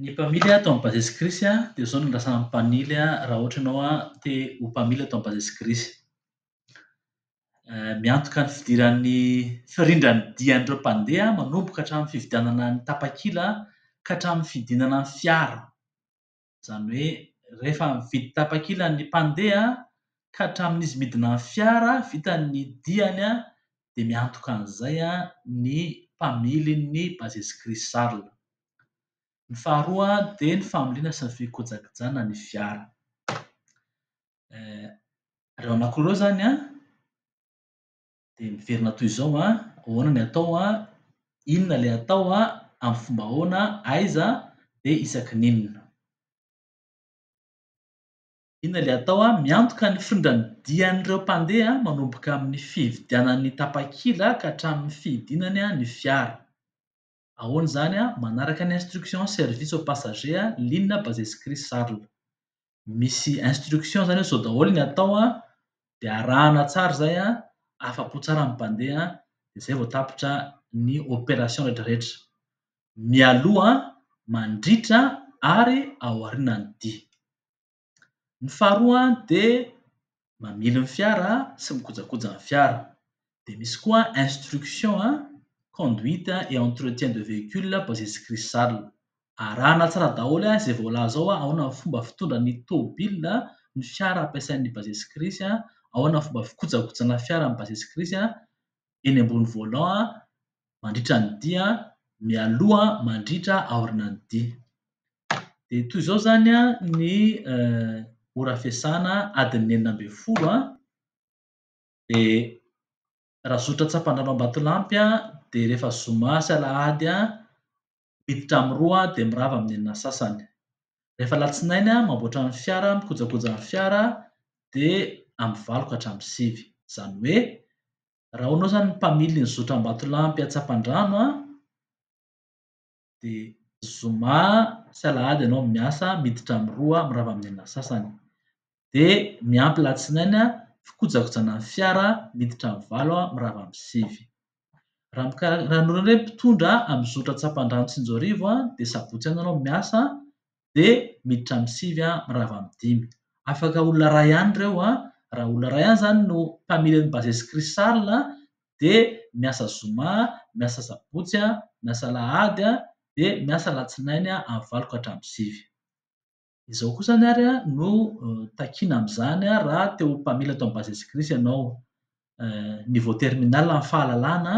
Ny mpamily ato amin'ny Base Security dia izao no andrasan'ny mpamily raha ohatra ianao te ho mpamily ato amin'ny Base Security. Miantoka ny fidiran'ny firindran'ny dian'ireo mpandeha manomboka hatramin'ny fividianana ny tapakila ka hatramin'ny fidinana ny fiara. Izany hoe rehefa mividy tapakila ny mpandeha ka hatramin'izy midina ny fiara vitany ny diany dia miantoka an'izay ny mpamilin'ny Bases Crisales. Ny faharoa dia ny familiana sy ny fikojakojana ny fiara. Ireo anankiroa ireo izany an! dia miverina toy izao an, ahoana ny atao an, inona ilay atao an, amin'ny fomba ahoana, aiza, dia isaky ny inona. Inona ilay atao an, miantoka ny findran'ny dian'ireo mpandeha manomboka amin'ny fividianan'ny tapakila ka hatramin'ny fidinany ny fiara. Ahoana izany? Manaraka ny instruction service aux passagers ligne Bazaizy Chris Charles. Misy instruction izany hoe izao daholo ny atao dia arahana tsara izay, afa-po tsara ny mpandeha dia izay vao tapitra ny opération rehetrarehetra. Mialoha, mandritra ary aorianan'ny dia. Ny faharoa dia mamily ny fiara sy mikojakoja ny fiara. Dia misy koa instruction conduite et entretien de véhicule basé sur cristal. Arahana tsara daholo izay voalaza ao ahoana ny fomba fitondra ny tomobilina, ny fiara ampiasain'ny basé sur crise, ahoana ny fomba fikojakojana fiara basé sur crise eny ambony volant. mandritra ny dia mialoha mandritra aorina ny dia. Dia toy izao izany ny ora fiasana adin'ny enina ambin'ny folo dia raha zotra tsapandrano ambatolampy dia rehefa zoma sy alahady miditra amin'ny roa dia mirava amin'ny enina sasany. Rehefa alatsinainy mamboatra ny fiara mikojakoja ny fiara dia amin'ny valo ka hatramin'ny sivy. Izany hoe raha anao zany mpamily ny zotra Ambatolampy Antsapandrano a dia zoma sy alahady ianao miasa miditra amin'ny roa mirava amin'ny enina sasany dia miampy latsinainy a fikojakojana ny fiara miditra amin'ny valo a mirava amin'ny sivy raha mikarak- raha anao indray mpitondra amin'ny zotra Antsapandrano Tsinjoarivo a dia sabotsy ihany ianao miasa de miditra amin'ny sivy a mirava amin'ny dimy. Afaka olona iray ihany ireo a, raha olona iray ihany zany no mpamily an'i Bases Crystal a de miasa zoma, miasa sabotsy a, miasa alahady a, de miasa alatsinainy a amin'ny valo ka hatramin'ny sivy. Izao koa zany ary a no takiana amin'izany a raha te ho mpamily ato amin'ny Bases Crys ianao. Niveau terminal amin'ny fahalalana,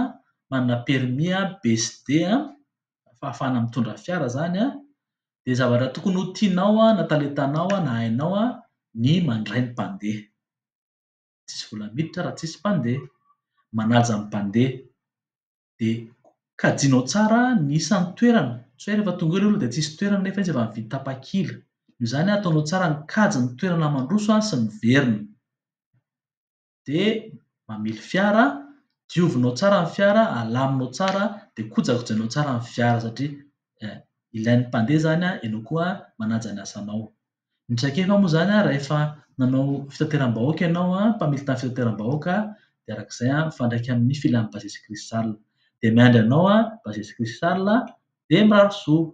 manana permis a, B sy D a, fahafahana mitondra fiara zany an, dia zavatra tokony ho tianao an, na talentanao an, na hainao an, ny mandray ny mpandeha. Tsisy vola miditra raha tsisy mpandeha. Manaja ny mpandeha. Dia kajianao tsara ny isan'ny toerana. Tsy hoe rehefa tonga eo ilay olona dia tsisy toerana nefa izy efa nividy tapakila. Noho izany an, ataonao tsara ny kajy ny toerana mandroso an, sy miverina. dia mamily fiara, diovinao tsara ny fiara, alaminao tsara, dia kojakojainao tsara ny fiara satria ilain'ny mpandeha izany ianao koa manaja ny asanao. Ny traikefa moa izany rehefa nanao fitateram-bahoaka ianao, mpamily tamin'ny fitateram-bahoaka dia araka izay mifandraika amin'ny filan'i Bajaj Crystal. Dia miandry anao Bajaj Crystal dia mirary soa.